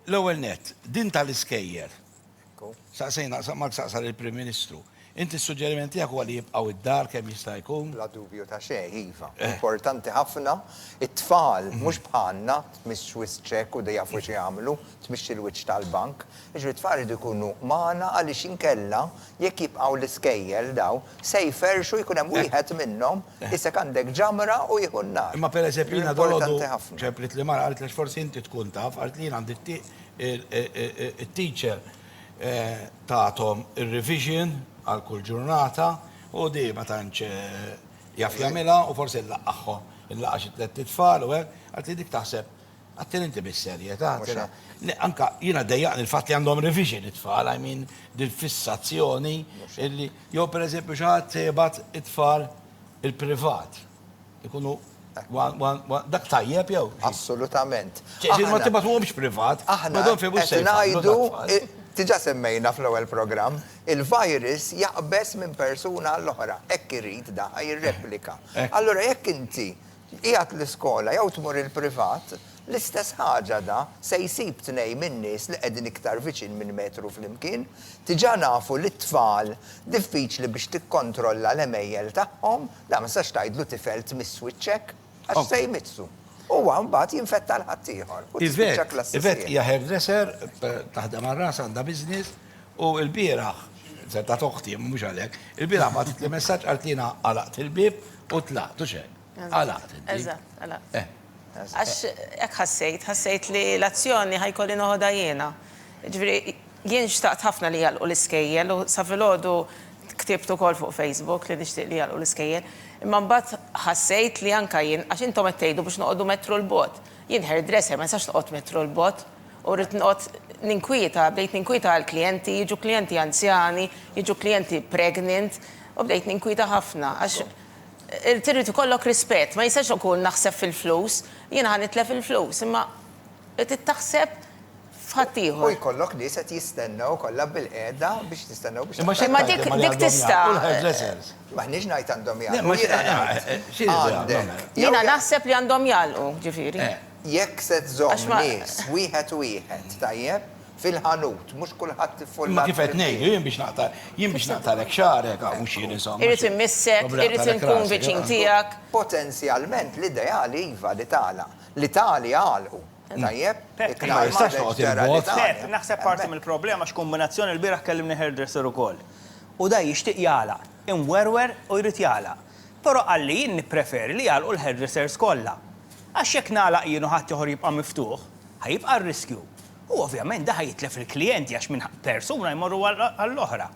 L-ewwel nett, din tal-iskejjer. Saqsejna, Mark saqsa lill-Prim Ministru. Inti s-suġġeriment tiegħek huwa li jibqgħu d-dar kemm jista' jkun? Bla dubju ta' xejn, iva. Importanti ħafna. It-tfal, mhux bħalna, tmiss wisq ċekk u jafu x'jagħmlu, tmixxi l-wiċċ tal-bank. Jiġifieri t-tfal iridu jkunu magħna għaliex inkella jekk jibqgħu l-iskejjel dawn, Se jferrxu, jkun hemm wieħed minnhom, isek għandek ġamra u jieħu n-nar. Imma pereżempju jiena dalgħodu ċemplit li mara qaltlex forsi inti tkun taf, qalt li jien għandi t-teacher tagħthom ir-revision għal kull ġurnata u di ma tantx jaf jagħmilha u forsi nlaqqagħhom, inlaqqa' xi tlett itfal u hekk, qaltli dik taħseb Għattieni inti bis-serjetà, għattieni. Le, anke jiena ddejjaqni l-fatt li għandhom revision it-tfal, I mean, dil-fissazzjoni illi, jew pereżempju xi ħadd se jibgħat it-tfal il-privat. Ikunu Dak tajjeb jew? Assolutament. Ġifieri ma tibgħatuhomx privat. Aħna qed ngħidu, diġà semmejna fl-ewwel programm, il-virus jaqbeż minn persuna għall-oħra, hekk irid da, jirreplika. Allura jekk inti Tqiegħed l-iskola jew tmur il-privat, l-istess ħaġa da se jsib tnejn min-nies li qegħdin iktar viċin minn metru flimkien. Diġà nafu li t-tfal diffiċli biex tikkontrolla l-għemejjel tagħhom, da ma tistax tgħidlu tifel tmiss wiċċek, għax se jmissu. Huwa mbagħad jinfetta l-ħaddieħor u tispiċċa klassi sħiħa. Yvette hija hairdresser, taħdem għal rasha, għandha business. U l-bieraħ, setgħet oħti, imma mhux għalhekk, il-bieraħ bagħtitli messaġġ qalt li jiena għalaqt il-bieb u tlaqt u xejn. Għalaqt il-bieb. Eżatt, għalaqt. Eh. Għax hekk ħassejt, ħassejt li l-azzjoni ħa jkolli noħodha jiena. Jiġifieri jien xtaqt ħafna li jagħlqu l-iskejjel u sa filgħodu ktibt ukoll fuq Facebook li nixtieq li jagħlqu l-iskejjel. Imma mbagħad ħassejt li anke jien, għax intom qed tgħidu biex noqogħdu metru 'l bogħod. Jien hairdresser ma nistax noqgħod metru 'l bogħod. U rrid noqgħod ninkwieta, bdejt ninkwieta għall-klijenti, jiġu klijenti anzjani, jiġu klijenti pregnant, u bdejt ninkwieta ħafna għax irid irid ikollok rispett, ma jistax ikun naħseb fil-flus, jiena ħa nitlef il-flus, imma trid taħseb f'ħaddieħor. U jkollok nies qed jistennew kollha bil-qiegħda biex jistennew biex tagħti. Imma xi tgħid dik tista'. Imma xi tgħid dik tista'. M'aħniex ngħid għandhom jagħlqu. Jiena naħseb li għandhom jagħlqu, ġifieri. Jekk se żżomm nies wieħed wieħed, tajjeb, fil-ħanut, mhux kulħadd iffullha. Imma kif qed ngħidu, jien biex naqta', jien biex naqtagħlek xagħarek, ah, mhux jien insomma. Irrid immissek, irrid inkun viċin tiegħek. Potenzjalment l-ideali iva li tagħlaq, l-Itali għalqu, tajjeb, iknar ma jistax toqgħod il-bogħod. Pep, naħseb parti mill-problema x'kumbinazzjoni, l-bieraħ kellimni hairdresser ukoll. U da jixtieq jagħlaq, imwerwer u jrid jagħlaq. Però qalli jien nippreferi li jagħlqu l-hairdressers kollha. Għax jekk nagħlaq jien u ħaddieħor jibqa' miftuħ, ħa jibqa' r-riskju. U ovvjament dan ħa jitlef il-klijenti għax minn persuna jmorru għall-oħra.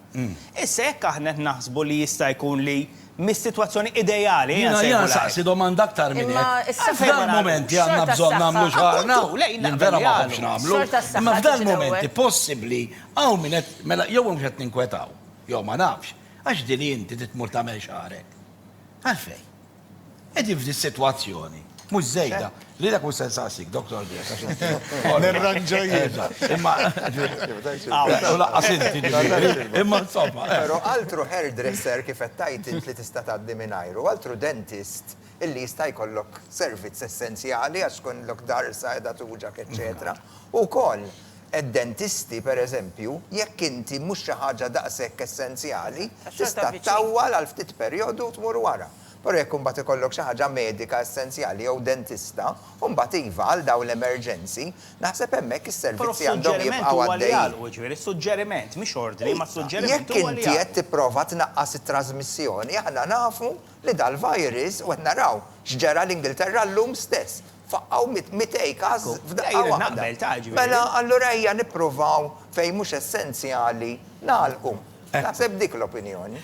Issa jekk aħna qed naħsbu li jista' jkun li mis-sitwazzjoni ideali, ejja nsejħulha hekk. Jiena nsaqsi domanda aktar minn hekk. F'dal-mument li għandna bżonn nagħmlu xaħarna, jien vera ma nħobbx nagħmlu, imma f'dal-mumenti possibbli hawn min qed, mela jew mhux qed ninkwetaw, jew ma nafx, għax din hi inti trid tmur tagħmel xaħrek. Għalfejn? Qegħdin f'di sitwazzjoni, mhux żejda, li dak mhux se nsaqsik, Dottor Grech, għax inti. Nirranġa jien. Imma. Laqqas inti ġifieri. Imma insomma. Però altru hairdresser kif qed tgħid int li tista' tgħaddi mingħajru, altru dentist illi jista' jkollok servizz essenzjali għax tkunlok darsa qiegħda tuġgħek eċċetera, ukoll. Id-dentisti, pereżempju, jekk inti mhux xi ħaġa daqshekk essenzjali, tista' ttawwal għal ftit perjodu u tmur wara. Però jekk imbagħad ikollok xi ħaġa medika essenzjali jew dentista, imbagħad iva, għal dawn l-emerġenzi, naħseb hemmhekk is-servizzi għandhom jibqgħu għaddejjin. Però s-suġġeriment huwa li jagħlqu, jiġifieri s-suġġeriment, mhix ordni, imma s-suġġeriment huwa li jagħlqu. Iva, jekk inti qed tipprova tnaqqas it-trażmissjoni, aħna nafu li dal-virus, u qed naraw x'ġara l-Ingilterra llum stess, Faqqgħu mit mitej każ f'daqqa waħda. Mela allura ejja nippruvaw fejn mhux essenzjali nagħlqu. Naħseb dik l-opinjoni.